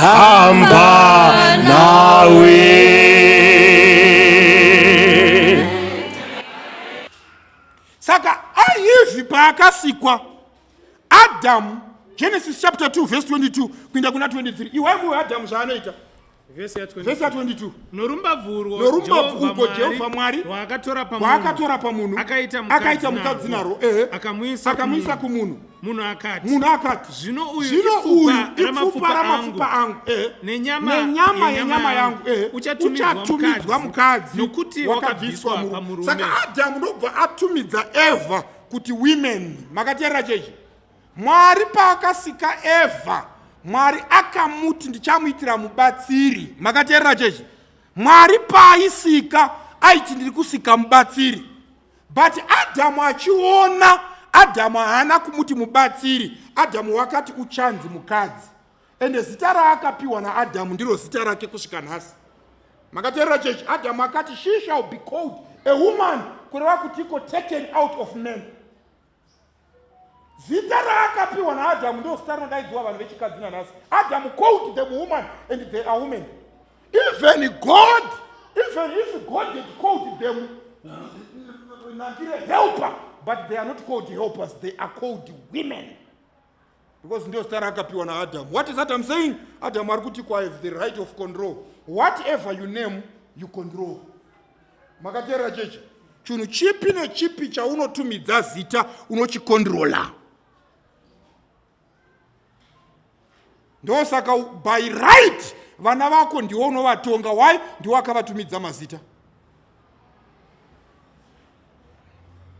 hamba nawe paakasikwa adamu genesis chapter 2 verse 22 kuinda kuna 23 iwai muwe adamu zvaanoita vese ya 22 norumbabvuko jehovha mwari rwaakatora pamunhu akaita mukadzi naro ehe akamwisa kumunhu munhu akati munhu akati zvino uyu zvino uyu ipfupa ramapfupa angu eh. nenyama nenyama yenyama yangu eh. uchatumidzwa mukadzi nokuti wakabviswa murume saka adamu ndobva atumidza eva kuti women makateerera chechi mwari paakasika eva mwari akamuti ndichamuitira mubatsiri makateerera chechi mwari paaisika aiti ndiri kusika mubatsiri but adhamu achiona adhamu haana kumuti mubatsiri adhamu wakati uchanzi mukadzi ende zita raakapiwa naadhamu ndiro zita rake kusvika nhasi makateerera chechi adhamu akati she shall be called a woman kureva kuti iko taken out of man zita raakapiwa naadhamu ndo zita rinodaidziwa vanhu vechikadzi nanhasi adhamu called them woman and they are women even god even if god had called them nandire helper but they are not called helpers they are called women because ndio star akapiwa na adam what is that i'm saying adam ari kuti kwa have the right of control whatever you name you control makateerera chechi chinhu chipi nechipi chaunotumidza zita unochikondirola ndosaka by right vana vako ndiwo unovatonga why ndiwo akavatumidza mazita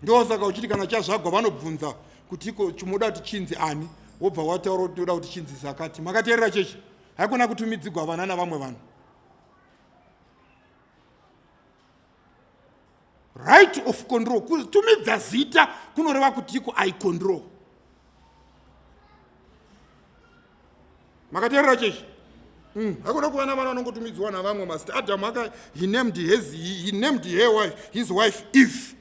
ndosaka uchiti kana chazvagwa vanobvunza kuti ko chimoda kuti chinzi ani wobva wataura kuti toda kuti chinzi zakati makateerera chechi haikona kutumidzigwa vana navamwe vanhu right of control kutumidza zita kunoreva kuti iko i control makateerera chechi mm, hakuna kuva navana vanongotumidzwa navamwe mazita adamu aka he named his, he named her wife, his wife eve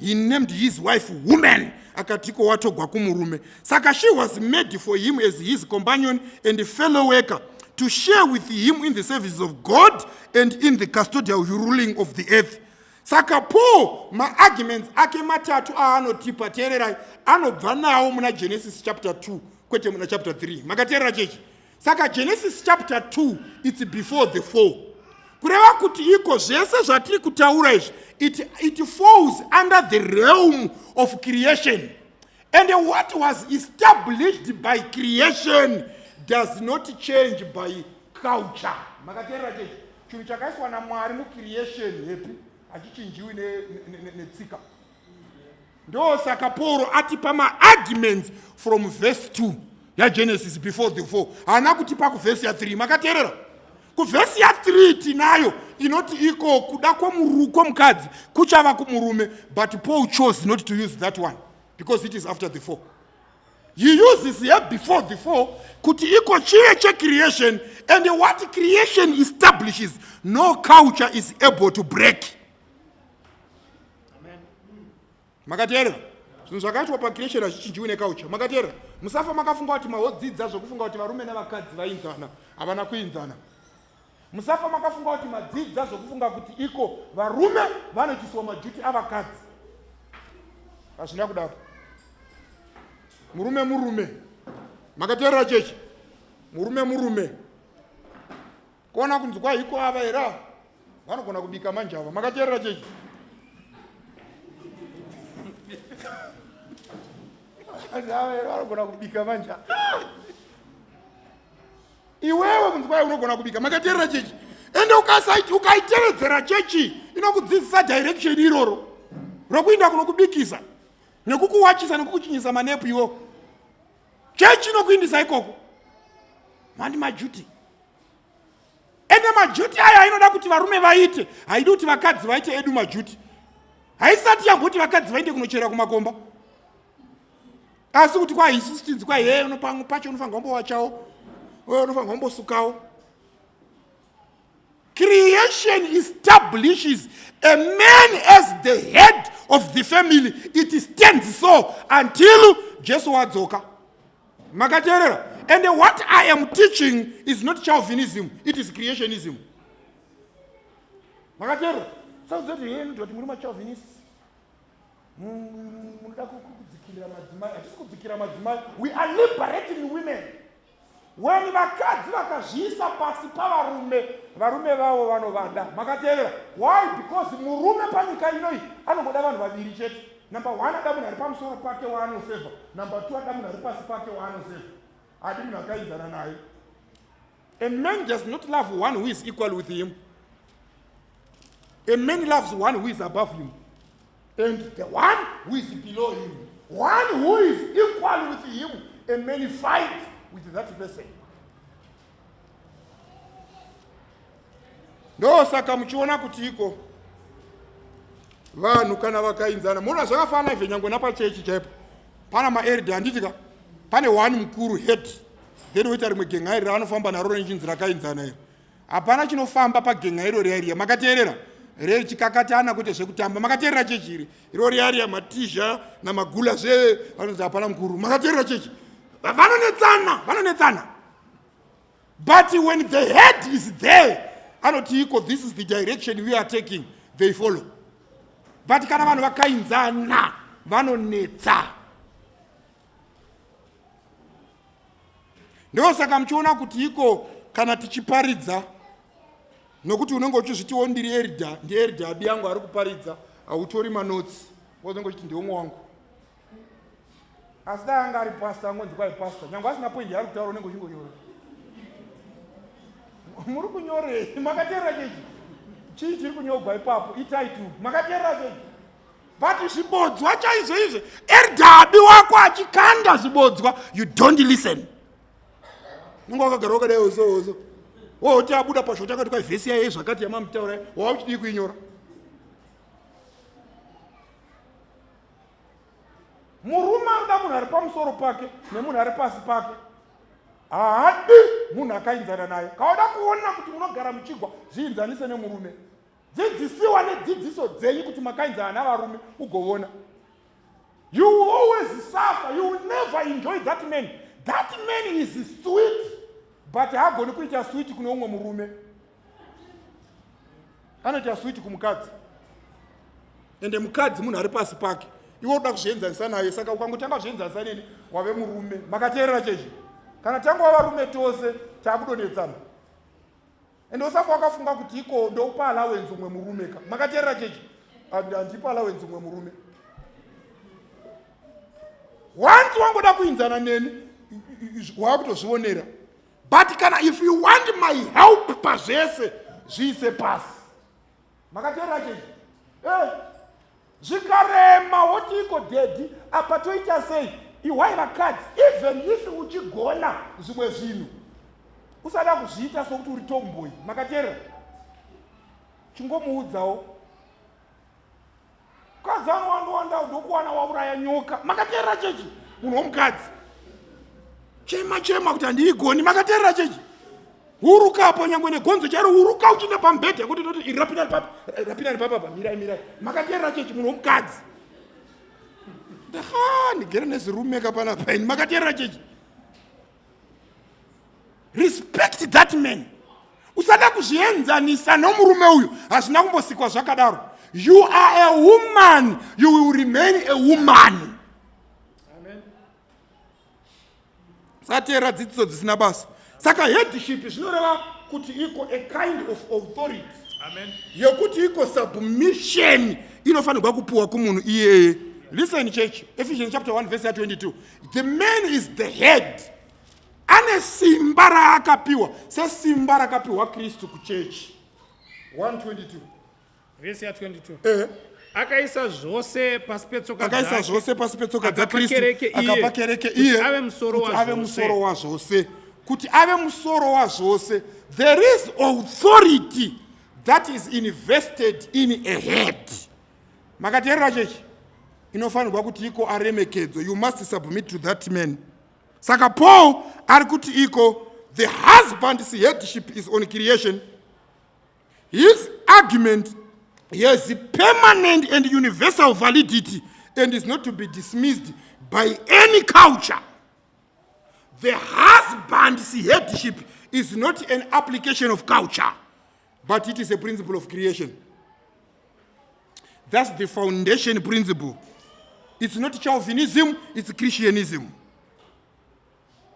he named his wife woman akatiko watogwa kumurume saka she was made for him as his companion and fellow worker to share with him in the services of god and in the custodial ruling of the earth saka paul maarguments ake matatu aanotipa teererai anobva nawo muna genesis chapter 2 kwete muna chapter 3 makateerera chechi saka genesis chapter 2 its before the fall kureva kuti iko zvese zvatiri kutaura izvi it, it falls under the realm of creation and what was established by creation does not change by culture makateerera chechi chinhu chakaiswa namwari mucreation hepi hachichinjiwi netsika ne, ne, ne, ndosaka pauro atipa maarguments from verse 2 yagenesis before the four haana kutipa kuvhesi ya3 makateerera kuvhesi ya3 tinayo inoti iko kuda kwomurukwo mukadzi kuchava kumurume but paul chose not to use that one because it is after the four he uses here before the four kuti iko chive checreation and what creation establishes no culture is able to break makateerera zvinhu zvakaitwa pacreation hazvichinjiwi nekaucha makateerera musafa makafunga kuti maodzidza zvokufunga kuti varume nevakadzi vainzana havana kuinzana musafa makafunga kuti madzidza zvokufunga kuti iko varume vanoitisiwa majuti avakadzi hazvina kudaro murume murume makateerera chechi murume murume kona kunzwa hiko ava here ava vanogona kubika manje ava makateerera chechi ava here vanogona kubika manje iwewe kunzwai unogona kubika makateerera chechi ende ukasaiti ukaitevedzera chechi inokudzidzisa direction iroro rokuinda kunokubikisa nekukuwachisa nekukuchinyisa manepu iwo chechi inokuindisa ikoko mandi majuti ende majuti aya ainoda kuti varume vaite haidi kuti vakadzi vaite edu majuti haisati yamboti vakadzi vaende kunochera kumakomba asi kuti kwahisistinzi kwaihe unopamwe pacho unofanirwa mbowachawo unofanirwa mbosukawo Creation establishes a man as the head of the family. It stands so until Jesu wadzoka. Makateerera? And what I am teaching is not Calvinism, it is creationism. Makateerera? Sasa zote yeye ndio timuruma Calvinist. Mnataka kudzikira madzimai, hatisi kudzikira madzimai. We are liberating women. weni vakadzi vakazviisa pasi pavarume varume vavo vanovada makateerera why because murume panyika inoyi anongoda vanhu vaviri chete number one ada munhu ari pamusoro pake waanoseva number two ada munhu ari pasi pake waanoseva adi munhu akainzana naye a man does not love one who is equal with him a man loves one who is above him and the one who is below him one who is equal with him and many fight with that person ndo saka muchiona kuti iko vanhu kana vakainzana muona zvakafanana izvo nyange napachechi chaipo pana maerde handitika pane one mukuru head then woita rimwe genhairi raanofamba naro nechinzi rakainzana iri hapana chinofamba pagen'a iro riaria makateerera rechikakatana kuite zvekutamba makateerera chechi iri iro riaria matizha namagula zve vanonzi hapana mukuru makateerera chechi vanonetsana vanonetsana but when the head is there anoti iko this is the direction we are taking they follow but kana vanhu vakainzana vanonetsa Ndiwo saka muchiona kuti iko kana tichiparidza nokuti unenge uchizvitiwo ndiri erida ndierida abi yangu ari kuparidza hautori manotsi wozonge uchiti ndiomwe wangu asi dai anga ari pasta angonzi kwai pasta nyange asina poindi yaari kutaura unenge uchingonyora muri kunyorei makateerera chechi chii chiri kunyogwa ipapo itai tu makateerera chechi but zvibodzwa chaizvo izvo erdabi wako achikanda zvibodzwa you don't listen nunge wakagara wakadai ozowozo woti abuda pazvo takati kwavhesi yaye zvakati yamamutaura wava uchidii kuinyora murume anoda munhu ari pamusoro pake nemunhu ari pasi pake haadi munhu akainzana naye kaoda kuona kuti munogara muchigwa zviinzanise nemurume dzidzisiwa nedzidziso dzenyu kuti makainzana navarume ugovona you will always suffer you will never enjoy that man that man is sweet but haagoni kuita switi kune umwe murume anoita switi kumukadzi ende mukadzi munhu ari pasi pake iwe uda kuzvienzanisa naye saka ukangotanga kuzvienzanisa neni wave murume makateerera chechi kana tanga wavarume tose taakudonetsana ende usafa wakafunga kuti iko ndoupa alawenzi umwe murume ka makateerera chechi handipa alawenzi umwe murume once wangoda kuinzana neni waakutozvionera but kana if you want my help pazvese zviise pasi makateerera chechi eh, zvikarema wotiiko dhedhi apa toita sei ihwai vakadzi even if uchigona zvimwe zvinhu usada kuzviita sokuti uri tomboyi makateerera chingomuudzawo mukadzi anowandowandawo ndokuwana wauraya nyoka makateerera chechi munhu womukadzi chema chema kuti handiigoni makateerera chechi huruka apo nyangwe negonzo chairo huruka uchiinda pamubhedha yekuti toti iri rapinani papa eh, rapinani papapa mirai mirai makateerera chechi munhu womukadzi ndaha ndigere nezirumeka panapa ini makateerera chechi respect that man usada kuzvienzanisa nomurume uyu hazvina kumbosikwa zvakadaro you are a woman you will remain a woman sateera dzidziso dzisina basa saka headship zvinoreva kuti iko a kind of authority yekuti iko submission inofanirwa kupiwa kumunhu iyeye listen church ephesians chapter 1 verse 22 The man is the head. Ane simba raakapiwa sesimba rakapiwa Kristu kuchechi. 122. Vese ya 22. Eh. Akaisa zvose pasi petsoka dzake. Akaisa zvose pasi petsoka dza Kristu. Akapa kereke iye. Ave musoro wa zvose. Ave musoro wa zvose. Kuti ave musoro wa zvose. There is authority that is invested in a head. makateerera chechi inofanirwa kuti iko aremekedzo you must submit to that man saka paul ari kuti iko the husband's headship is on creation his argument has permanent and universal validity and is not to be dismissed by any culture the husband's headship is not an application of culture but it is a principle of creation that's the foundation principle it's not calvinism it's christianism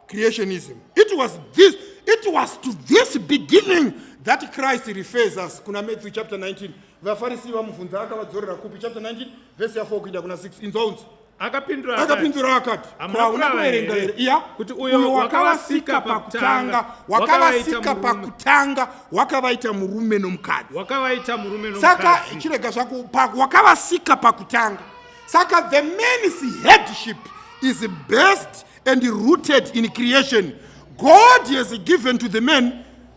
creationism it was this it was to this beginning that christ refers us kuna matthew chapter 19 vafarisi vamubvunza akavadzorera kupi chapter 19 vese ya4 kuinda kuna 6 inzwaunzi akapindura akapindura akati kwauna kuverenga here iya kuti uyo wakavasika pakutanga wakavasika pakutanga wakavaita murume nomukadzi wakavaita murume nomukadzi saka chirega zvako wakavasika pakutanga saka the man's headship is best and rooted in creation god has given to the man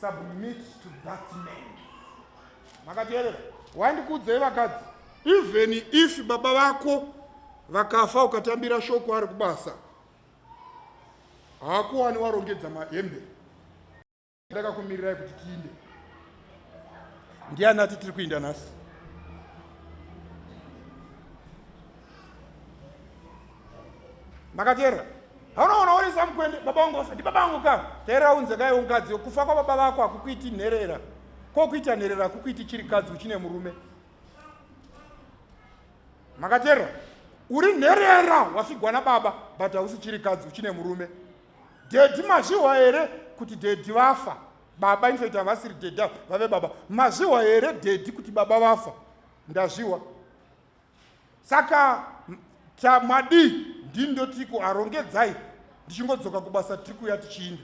submit to that man makateerera wandikuudzei vakadzi even if baba vako vakafa ukatambira shoko ari kubasa haakuwani warongedza mahembe ndakakumirirai kuti tiinde ndiani ati tiri kuinda nhasi makateerera haunoona uri samukwende baba vangu vafa ndibaba vangu ka teerera unze kaiwo mukadzi kufa kwababa vako hakukuiti nherera kokuita nherera hakukuiti chirikadzi uchine murume makateerera uri nherera wafigwa nababa but hausi chirikadzi uchine murume dhedhi mazvihwa here kuti dhedhi vafa baba infact havasiri dhedhi vave baba mazvihwa here dhedhi kuti baba vafa ndazvihwa saka ta madii ndini ndotiko arongedzai ndichingodzoka kubasa tiri kuya tichiinda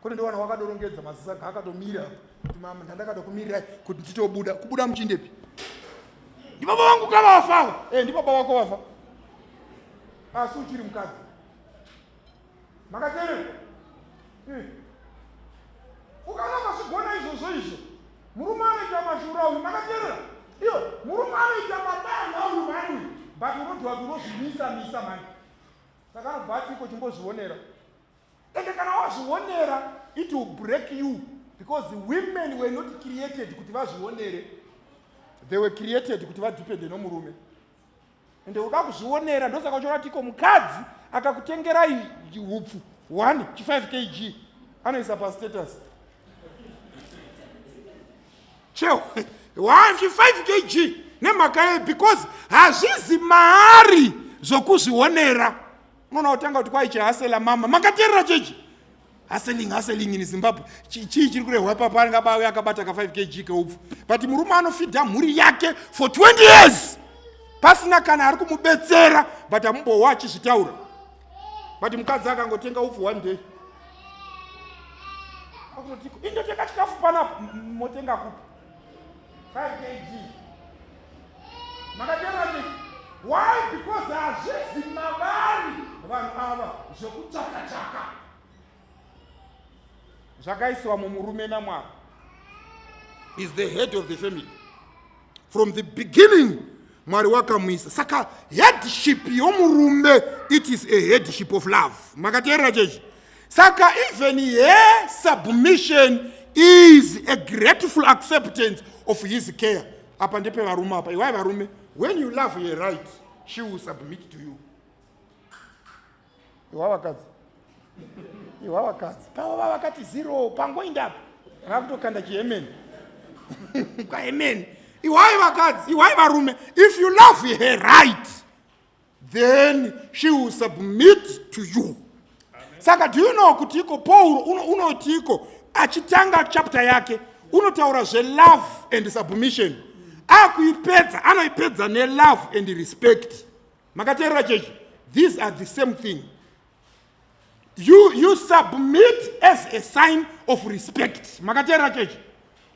kune ndowana wakadorongedza mazisa ka akatomira kuti mama ndandakada kumirirai kuti nditobuda kubuda muchindepi ndibaba vangu kavafa e eh, ndibaba wako vafa asi uchiri mukadzi makateerera eh. ukana mazvigona izvozvo izvo murume anoita mashura uyu makateerera iyo murume anoita mabanga uyu mani uyu but unotiwa kuti unozvimisa misa mani saka anobva ati iko chimbozvionera ende kana wazvionera it will break you because the women were not created kuti vazvionere they were created kuti vadepende nomurume ende uda kuzvionera ndosaka uchiona tiko mukadzi akakutengera hupfu 1 chi 5 kg anoisa pastatus cheo 1 chi 5 kg nemhaka yei because hazvizi maari zvokuzvionera unoona kutanga kuti kwaichihasela mama makateerera chechi haseling haseling in zimbabwe chii chiri kurehwa ipapo anenge abawe akabata ka 5 kg keupfu but murume anofidha mhuri yake for 20 years pasina kana ari kumubetsera but amumbowa achizvitaura but mukadzi akangotenga upfu one day akutotiko indotenga chikafu panapa motenga kupi 5 kg makatema ti why because hazvizi mavari vanhu ava zvekuchakachaka zvakaiswa mumurume namwari is the head of the family from the beginning mwari wakamwisa saka headship yomurume it is a headship of love makateerera chechi saka even her submission is a grateful acceptance of his care apa ndepevarume apa iwai varume when you love her right she will submit to you iwa vakadzi iwa vakadzi pava va vakati zero pangoindapo vakutokanda chihemeni kwahemeni iwai vakadzi iwai varume if you love her right then she will submit to you saka do you know kuti iko pauro unoti uno iko achitanga chapter yake unotaura zvelove and submission akuipedza anoipedza nelove and respect makateerera chechi these are the same thing you, you submit as a sign of respect makateerera chechi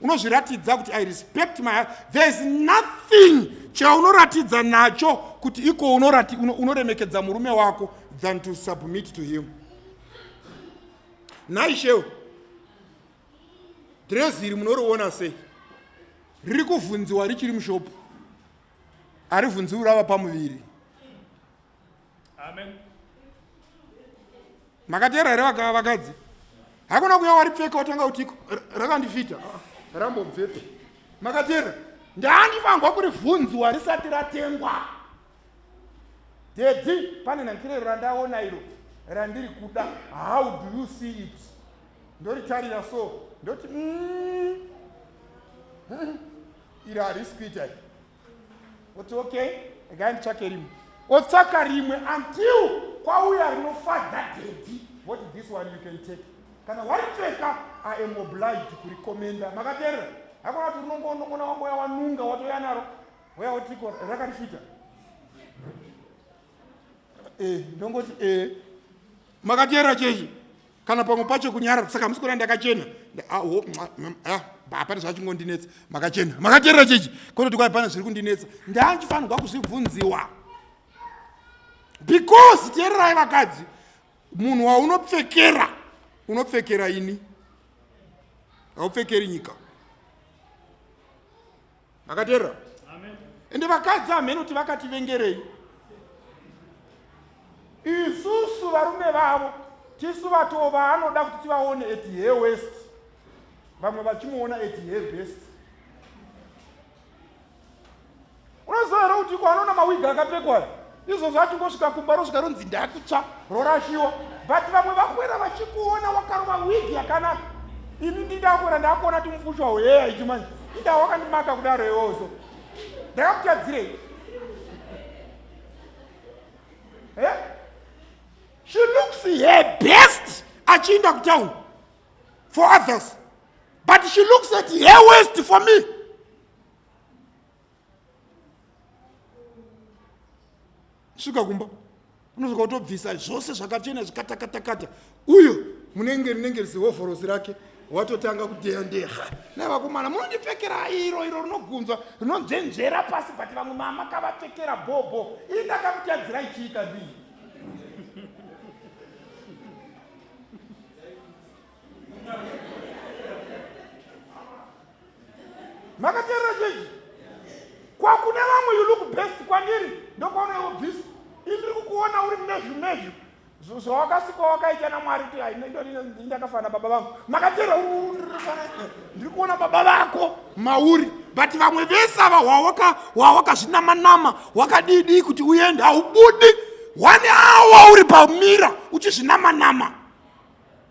unozviratidza kuti i respect my there is nothing chaunoratidza nacho kuti iko unorati unoremekedza murume wako than to submit to him nhai shewo drezi iri munoriona sei riri kuvhunziwa richiri mushopu harivhunziwi rava pamuviri amen makateera here vakadzi hakuna kuya waripfeka watanga kutiko rakandifita ah, rambobvepi makateera ndandifanirwa kuri vhunziwa risati ratengwa dedi pane nhankirero randaona iro randiri kuda how do you see it ndoritarira so ndoti mm, iri harisi kuita iri oti okay regai nditsvake rimwe otsvaka rimwe until kwauya rinofadza dedi what this one you can take kana waripfeka i am obliged kurikomenda makaterera hakuna kuti unongoonokona wamboya wanunga watoya naro waya wotiko rakarifita e eh, ndongoti e eh. makaterera chechi kana pamwe pacho kunyarara saka hamusi kuona ndakachena ah, oh, ah, hapana zvachingondinetsa makachena makaterera chechi kototi kwai pana zviri kundinetsa ndandifanirwa kuzvibvunziwa because teererai vakadzi munhu waunopfekera unopfekera ini haupfekeri nyika makateerera ende vakadzi hamhene kuti vakativengerei isusu varume vavo tisu vatoo vaanoda kuti tivaone at he west vamwe vachimuona at he best unoziva here kuti ko anoona mawigi akapfekwayo izvozvo achingosvika kumba rosvika ronzi ndakutsva rorashiwa but vamwe vakwera vachikuona wakarova wigi yakanaka ini ndindakuona ndakuona timufushi wawo heya ichi manje ida wakandimaka kudaro iwozo ndakakutadzirei eh? she looks her best achiinda kutown for others but she looks at her west for me svika kumba unosvika utobvisa zvose zvakachena zvikatakatakata uyo munenge rinenge rizihovhorosi rake watotanga kudeyandeha na vakomana munondipfekera iro iro rinogunzwa rinonzvenzvera pasi but vamwe mama kavapfekera bhobho ii ndakamutadzira ichiita ndii makateerera chechi kwakune vamwe you look best kwandiri ndokwaona iwo bhizi indiri kukuona uri mnezvi mnezvi zvawakasika wakaita namwari kuti ndakafanana baba vangu makateerera ndiri kuona baba vako mauri but vamwe vese ava wawakazvinamanama wakadidii kuti uende haubudi one awa uri pamira uchizvinamanama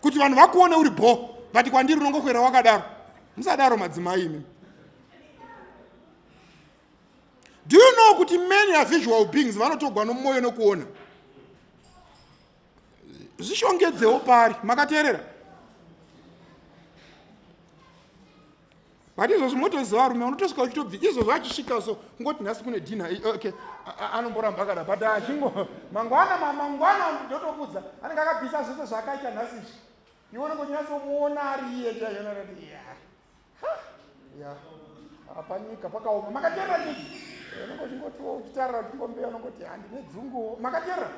kuti vanhu vakuone uri bho vati kwandiri unongokwera wakadaro musadaro madzimai imi do you know kuti many avisual beings vanotogwa nomwoyo nokuona zvishongedzewo pari makateerera but izvozvi motoziva varume unotosvika uchitobvi izvozvo achisvika so ngoti nhasi kune dina eh, okay anomboramba akada but achingo mangwana mangwana ndotokudza anenge akabvisa zvese zvaakaita nhasi izvi iwe unenge uchinyatsomuona ari iye chaionarati ya ya apanyika pakaoma makaterera nyika eh, unenge uchingotiwo uchitarira uchingombeya unongoti handine dzunguwo makaterera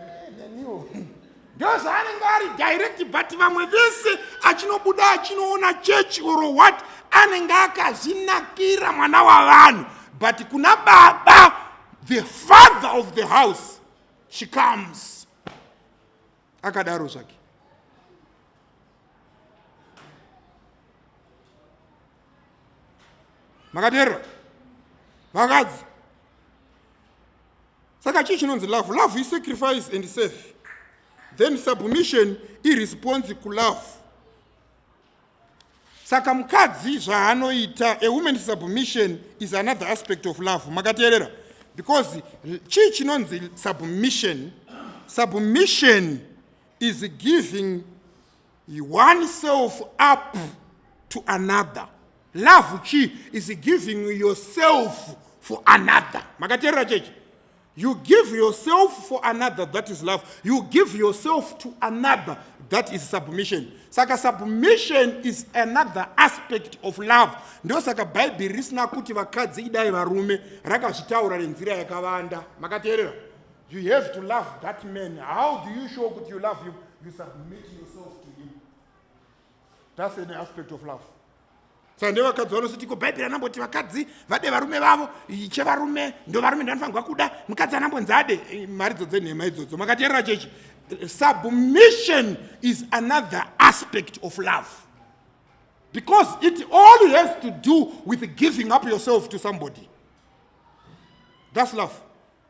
eh, neniwo ndozvaanenge ari direct but vamwe vese achinobuda achinoona church or what anenge akazvinakira mwana wavanhu but kuna baba the father of the house she comes akadaro zvake makateerera vakadzi saka chii chinonzi love love isacrifice and safe then submission iresponse kulove saka mukadzi zvaanoita a woman submission is another aspect of love makateerera because chii chinonzi submission submission is giving He one self up to another. Love chi is giving yourself for another. Makaterera chechi. You give yourself for another, that is love. You give yourself to another, that is submission. Saka submission is another aspect of love. Ndo saka Bible risina kuti vakadzi idai varume rakazvitaura nenzira yakavanda. Makaterera? You have to love that man. How do you show that you love him? You submit yourself to him. That's an aspect of love. saka ndevakadzi vanositiko bhaibheri anamboti vakadzi vade varume vavo chevarume ndovarume ndanofanirwa kuda mukadzi anambonzi ade eh, mharidzo dzenhema idzodzo makateerera chechi submission is another aspect of love because it all has to do with giving up yourself to somebody that's love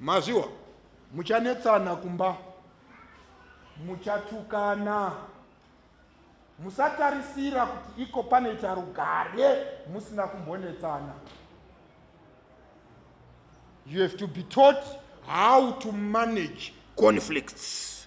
mazviwa muchanetsana kumba muchatukana musatarisira kuti iko panoita rugare musina kumbonetsana you have to be taught how to manage conflicts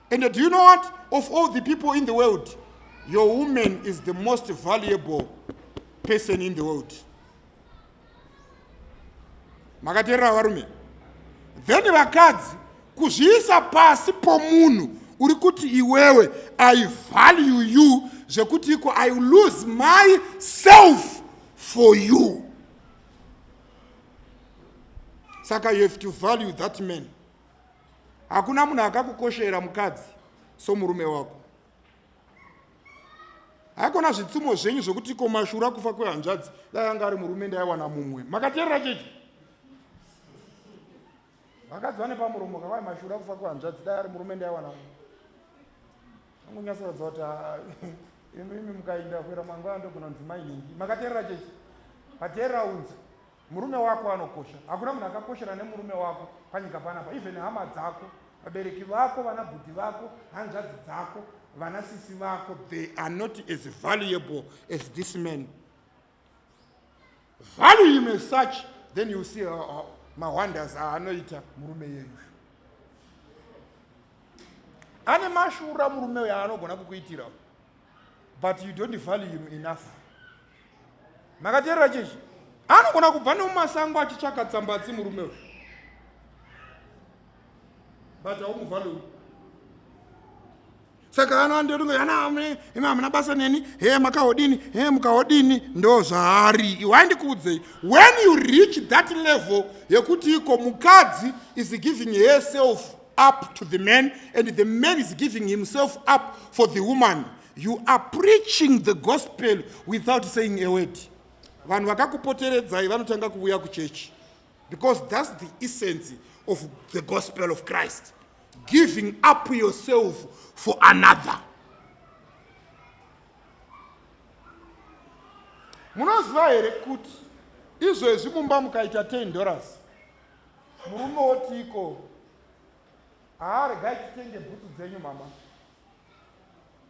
And do you know what? Of all the people in the world, your woman is the most valuable person in the world. Makaterera varume. Then vakadzi kuzviisa pasi pomunhu uri kuti iwewe I value you zvekuti iko I lose myself for you. Saka you have to value that man. hakuna munhu akakukoshera mukadzi somurume wako haikona zvitsumo zvenyu zvokuti komashura kufa kwehanzvadzi dai anga ari murume ndaiwana mumwe makateerera chechi vakadzi vane pamuromo kavai mashura kufa kwehanzvadzi dai ari murume ndaiwana mumwe angonyasoratidza kuti ah, imi mukainda kuera mangwana ndogona kunzi mainhingi makateerera chechi pateerera unzi Murume wako anokosha. Hakuna munhu akakoshera nemurume wako panyika panapa. Even hama dzako, vabereki vako, vana bhudhi vako, hanzvadzi dzako, vana sisi vako, they are not as valuable as this man. Value him as such, then you see uh, uh, mawonders aanoita murume yeyu. ane mashura murume uyo anogona kukuitira but you don't value him enough makateerera chechi anogona kubva nemumasango achitsvaka tsambatsi murume uyu but haumuvhalou saka anoandorunga yana amune imi hamuna basa neni he makahodini he mukahodini ndo zvaari iwe aindikuudzei when you reach that level yekuti iko mukadzi is giving herself up to the man and the man is giving himself up for the woman You are preaching the gospel without saying a word. Vanhu vakakupoteredzai vanotanga kuvuya kuchechi because that's the essence of the gospel of Christ. Giving up yourself for another. Munoziva here kuti izvezvi mumba mukaita 10 dollars murume wotiko haaregai titenge bhutsu dzenyu mama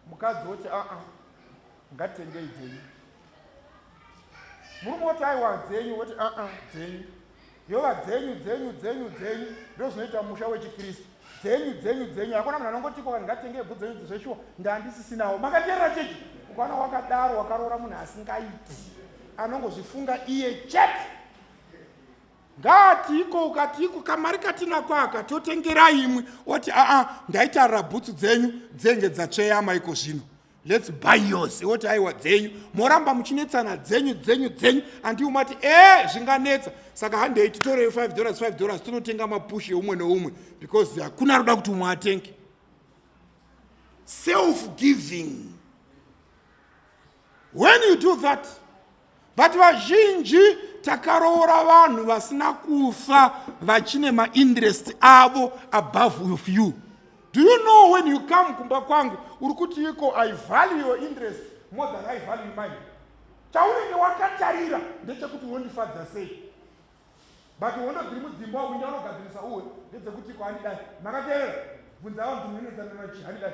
mukadzi woti aa ah, ah, ngatengei dzenyu murume woti aiwa dzenyu woti aa ah, dzenyu yova dzenyu dzenyu dzenyu dzenyu ndo zvinoita musha wechikristu dzenyu dzenyu dzenyu hakuna munhu anongotiko vanhu ngatenge bvu dzenyu dzezveshuwa ndandisisinawo makateerera chechi ukaona wakadaro wakaroora munhu asingaiti anongozvifunga iye chete ngaati iko ukati iko kamari katinako aka totengera imwe oti aa ndaitarira bhutsu dzenyu dzenge dzatsveyama iko zvino lets buy yours woti aiwa dzenyu moramba muchinetsana dzenyu dzenyu dzenyu andiwo mati e eh, zvinganetsa saka handei titorei 5 dollars 5 dollars tonotenga mapushi eumwe neumwe because hakuna roda kuti umwe atenge self giving when you do that but vazhinji takaroora vanhu vasina kufa vachine mainterest avo above with you do you know when you come kumba kwangu uri kuti iko i value your interest more than i value mine chaunenge wakatarira ndechekuti unondifadza sei but hondo dziri mudzimba wawinda unogadzirisa uwe ndedzekuti ko handidai makateerera bvunza avo ndimwenezanana chi handidai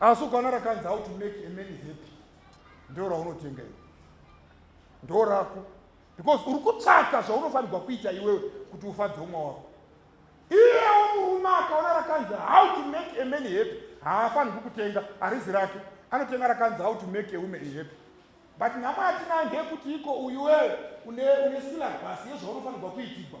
asi ukana rakanzi how to make a man happy ndo raunotenga iwe ndo rako because uri kutsvaka zvaunofanirwa kuita iwewe kuti ufadze umwe wako iyewo murume akaona rakanzi how to make a man happy haafanirwi kutenga arizi rake anotenga rakanzi how to make a woman happy but nhamo yatinayo ndeyekuti iko uyuwewe une, une silabhasi yezvaunofanirwa kuitigwa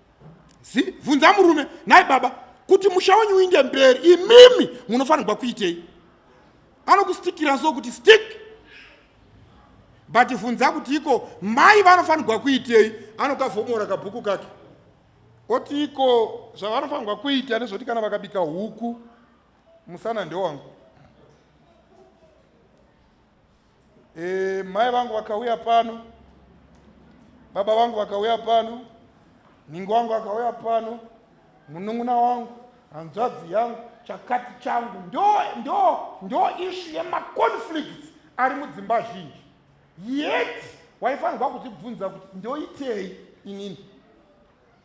zi bvunza murume nhai baba kuti musha wenyu uinde mberi imimi munofanirwa kuitei anokustikira so kuti stick but bvunza kuti iko mai vanofanirwa kuitei anokavhomora kabhuku kake oti iko zvavanofanirwa kuita nezvoti kana vakabika huku musana ndewangu E, mai vangu vakauya pano, baba vangu vakauya pano, ningi wangu akauya pano, munun'una wangu, hanzvadzi yangu, chakati changu, ndo ndo ndo ishu yemaconflicts ari mudzimba zhinji yet waifanirwa kuzvibvunza kuti ndoitei inini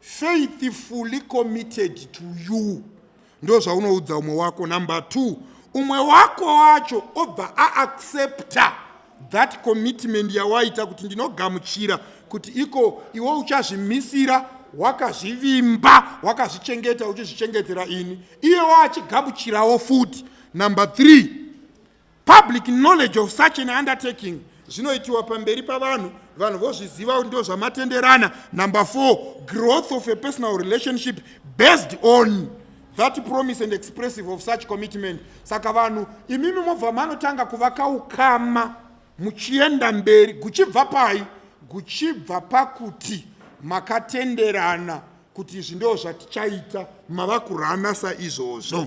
faithfully committed to you ndozvaunoudza umwe wako number two umwe wako wacho obva aaccepta that commitment yawaita kuti ndinogamuchira kuti iko iwe uchazvimisira wakazvivimba wakazvichengeta uchizvichengetera ini iye waachigamuchirawo futi number three Public knowledge of such an undertaking zvinoitiwa pamberi pavanhu vanhu vozviziva ndo zvamatenderana number four growth of a personal relationship based on that promise and expressive of such commitment saka vanhu imimi mobva manotanga kuvaka ukama muchienda mberi guchibva pai guchibva pakuti makatenderana kuti izvi ndo zvatichaita mava kurana saizvozvo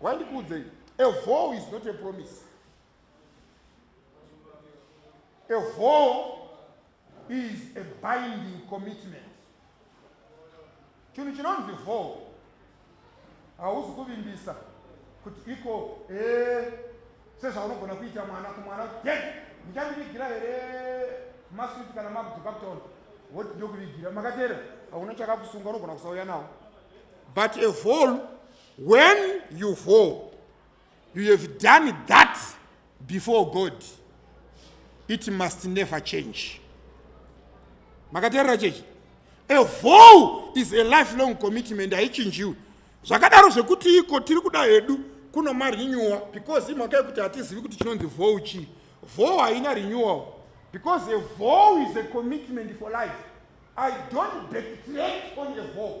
wandikuudzei a vow is not a promise a vow is a binding commitment chinhu chinonzi vow hauzi kuvimbisa kuti iko eh, sezvaunogona kuita mwana kumwana ye ndichandivigira here maswiti kana makudzoka kutaona woti ndokuvigira makateera hauna chakakusunga unogona kusauya nawo but a vow when you fall you have done that before god it must never change makateerera chechi a vow is a lifelong commitment haichinjiwi zvakadaro zvekuti iko tiri kuda hedu kuno marinewal because imhaka yekuti hatizivi kuti chinonzi vow chii vow haina renewal because a vow is a commitment for life i don't betray on a vow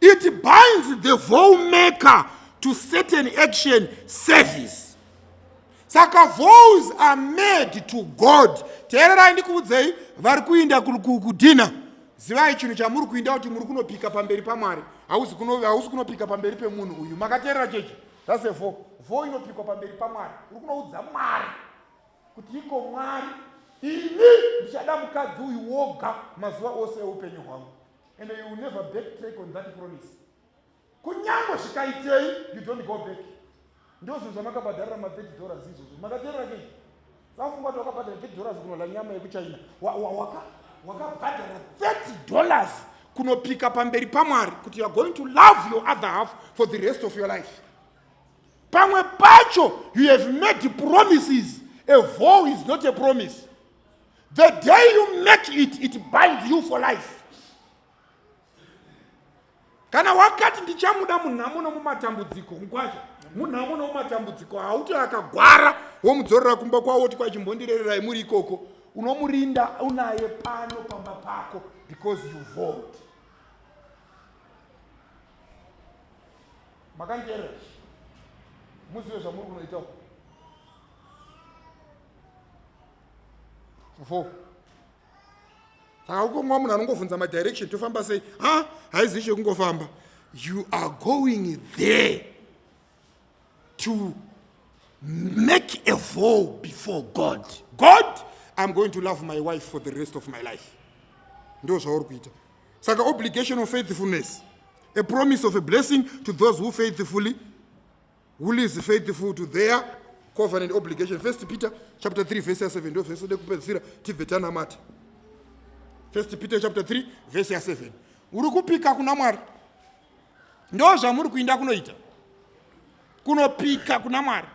It binds the vow maker to certain action service. Saka vows are made to God. Teererai ndikuudzei vari kuinda kudhina. Zivai chinhu chamuri kuinda kuti muri kunopika pamberi paMwari. Hausi kunopika pamberi pemunhu uyu. Makateerera chechi? That's a vow. Vow inopikwa pamberi paMwari. Uri kunoudza Mwari kuti iko Mwari ini ndichada mukadzi uyu woga mazuva ose eupenyu hwangu. and you will never back track on that promise kunyangwe zvikaitei you don't go back ndozvinhu zvamakabhadharira ma 30 dollars izvozvo makateerera kei safunga kuti wakabhadhara 30 dollars kunola nyama yekuchina wakabhadhara 30 dollars kunopika pamberi pamwari kuti youare going to love your other half for the rest of your life pamwe pacho you have made promises a vow is not a promise the day you make it it binds you for life kana wakati ndichamuda munhamo nomumatambudziko mkwasha munhamo nomumatambudziko hauti akagwara womudzorera kumba kwavo woti kwachimbondirererai muri ikoko unomurinda unaye pano pamba pako because you vote makandiera muzive zvamuri kunoita uku fo saka ukomwa munhu anongobvunza madirection tofamba sei ha haizi chekungofamba you are going there to make a vow before god god i'm going to love my wife for the rest of my life ndo zvauri kuita saka obligation of faithfulness a promise of a blessing to those who faithfully who lives faithful to their covenant obligation first peter chapter 3 verse ya 7 ndo vhesi ode kupedzisira tibve tanamata first peter chapter 3 verse ya 7 uri kupika kuna mwari ndo zvamuri kuinda kunoita kunopika kuna mwari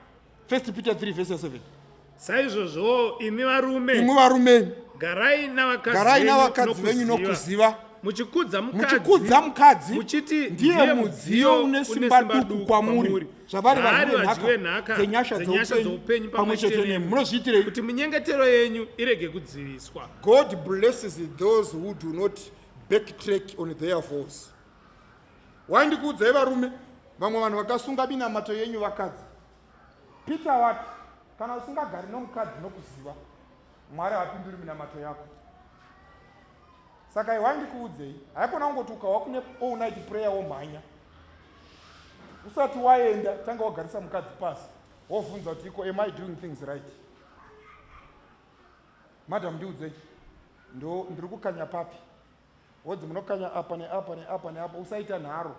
first peter 3 verse ya 7 saizvozvowo imi varume imwe varume garai navakadzi garai venyu navakadzi venyu nokuziva. nokuziva muchikudza muchikudza mukadzi muchiti ndiye mudziyo une simba duku kwamuri zvavari Haari vadyi vadyi venhaka dzenyasha dzenyasha dzoupenyu dzoupenyu pamwe pamwe chete chete nemi nemi. munozviitirei kuti minyengetero yenyu irege kudziviswa God blesses those who do not backtrack on their vows. Wandikuudzai varume, vamwe vanhu vakasunga minamato yenyu vakadzi. Peter wati kana usingagari nomukadzi nokuziva mwari hapinduri minamato yako saka iwai ndikuudzei haikona kungoti ukahwa kune all night prayer womhanya usati waenda tanga wagarisa mukadzi pasi wovhunza kuti iko am i doing things right madam ndiudzei ndo ndiri kukanya papi wodzi munokanya apa neapa neapa neapa usaita nharo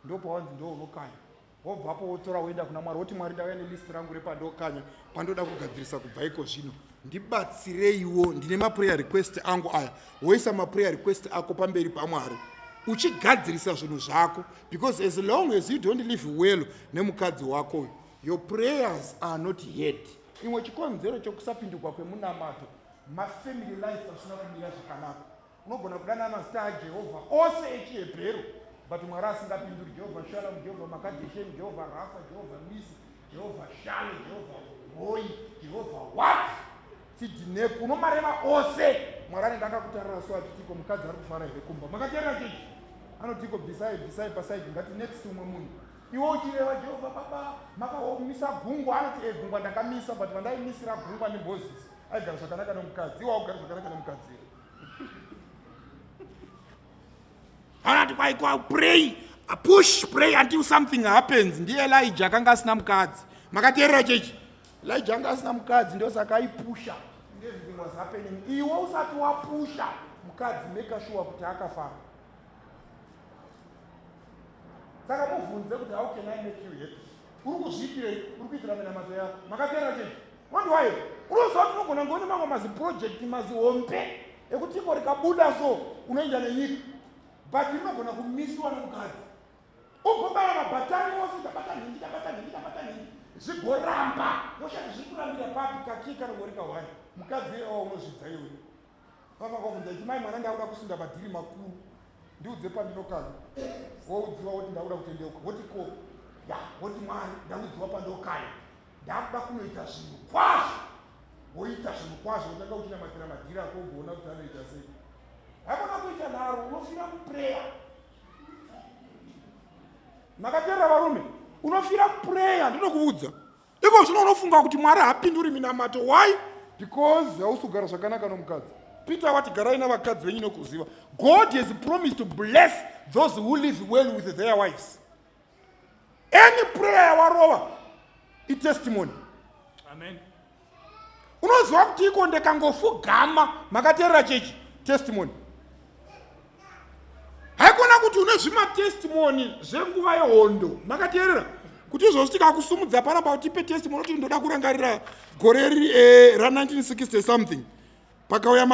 ndopawanzi ndo unokanya wobvapo wotora woenda kuna mwari woti mwari ndauya nelist rangu repandokanya pandoda kugadzirisa kubva iko zvino ndibatsireiwo ndine maprayer request angu aya woisa maprayer request ako pamberi pamwari uchigadzirisa zvinhu zvako because as long as you don't live well nemukadzi wako uyu your prayers are not head imwe chikonzero chokusapindurwa kwemunamato mafamily life asina kumira zvakanaka Unogona kudana mazita aJehovha ose echiHebheru but Mwari asingapinduri. Jehovha Shalamu, Jehovha Makadhesheni, Jehovha Rafa, Jehovha Nisi, Jehovha Shale, Jehovha Hoi, Jehovha what? Sidhineku, unomareva ose. Mwari anenge akakutarira so achitiko mukadzi ari kufara here kumba. Makateerera chechi? Anotiko bvisai, bvisai pasaidi ngati next umwe munhu. Iwe uchireva Jehovha baba makaomisa gungwa anoti e gungwa ndakamisa but vandaimisira gungwa neMoses aigara zvakanaka nomukadzi. Iwe augari zvakanaka nomukadzi here? anati kwaikwa pray push pray until something happens ndiye elija akanga asina mukadzi makateerera chechi elija anga asina mukadzi ndosaka aipusha everything was happening iwe usati wapusha mukadzi make sure kuti akafara saka mubvunze kuti how can i make you happy uri kuzviitirei uri kuitira minamato yako makateera chii wandiwayo unoziva kuti unogona ngone mamwe maziprojekti mazihombe ekuti iko rikabuda so unoenda nenyika but rinogona kumisiwa nemukadzi ugobaya mabhatani ose ndabata nhingi ndabata nhingi ndabata nhingi zvigoramba woshati zviri kurambira papi kakii kanogorika hwani mukadzi iyewao unozvidza iwe Baba vakavabvunza kuti mai mwana ndakuda kusunda madhiri makuru ndiudze pandinokana woudziwa woti ndakuda kutendeuka woti ko ya woti mwari ndaudziwa pandokana ndakuda kunoita zvinhu kwazvo woita zvinhu kwazvo wotanga kuchinamatira madhiri ako ugoona kuti anoita sei haikona kuita nharo unofira mupreya makaterera varume unofira mupreya ndinokuudza iko zvino unofunga kuti mwari hapinduri minamato why because hausi kugara zvakanaka nomukadzi peter wati garai navakadzi venyu nokuziva god has promised to bless those who live well with their wives any prayer yawarova itestimony amen unoziva kuti iko ndekangofugama makateerera chechi testimony haikona kuti une zvimatestimoni zvenguva yehondo makateerera kuti izvozvo tikakusumudza panapa kuti ipe testimoni kuti ndoda kurangarira gore riri eh, ra1960 something pakauya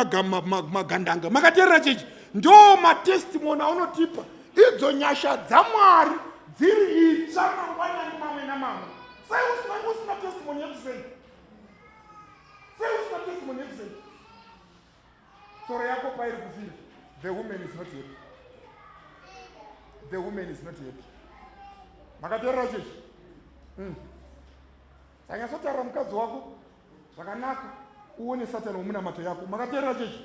magandanga makateerera chechi ndo matestimoni aunotipa idzo nyasha dzamwari dziri itsva mangwanani mamwe namamwe sei usina testimoni yekusei sei usina testimoni yekusei tsoro yako pairi kufira the woman is not happy the woman is not happy makateerera chechi hmm. sanyasotaura mukadzi wako zvakanaka uone satani womunamato yako makateerera chechi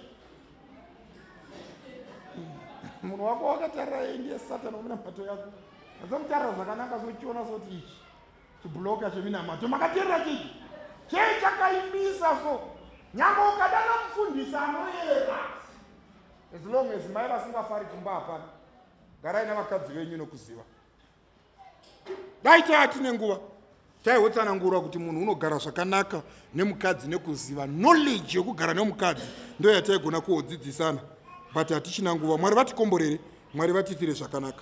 hmm. munhu wako wakatarira ndiye satani womunamato yako azamutarira zvakanaka sochiona soti ichi chibhuloka cheminamato makateerera chii chei chakaimisa so nyambo ukadana mufundisi anoyera as long as mai vasingafari kumba hapana garai nevakadzi venyu nokuziva dai taya tine nguva taihotsanangurwa kuti munhu unogara zvakanaka nemukadzi nekuziva knowledge yekugara nemukadzi ndo yataigona kuodzidzisana but hatichina nguva mwari vatikomborere mwari vatifire zvakanaka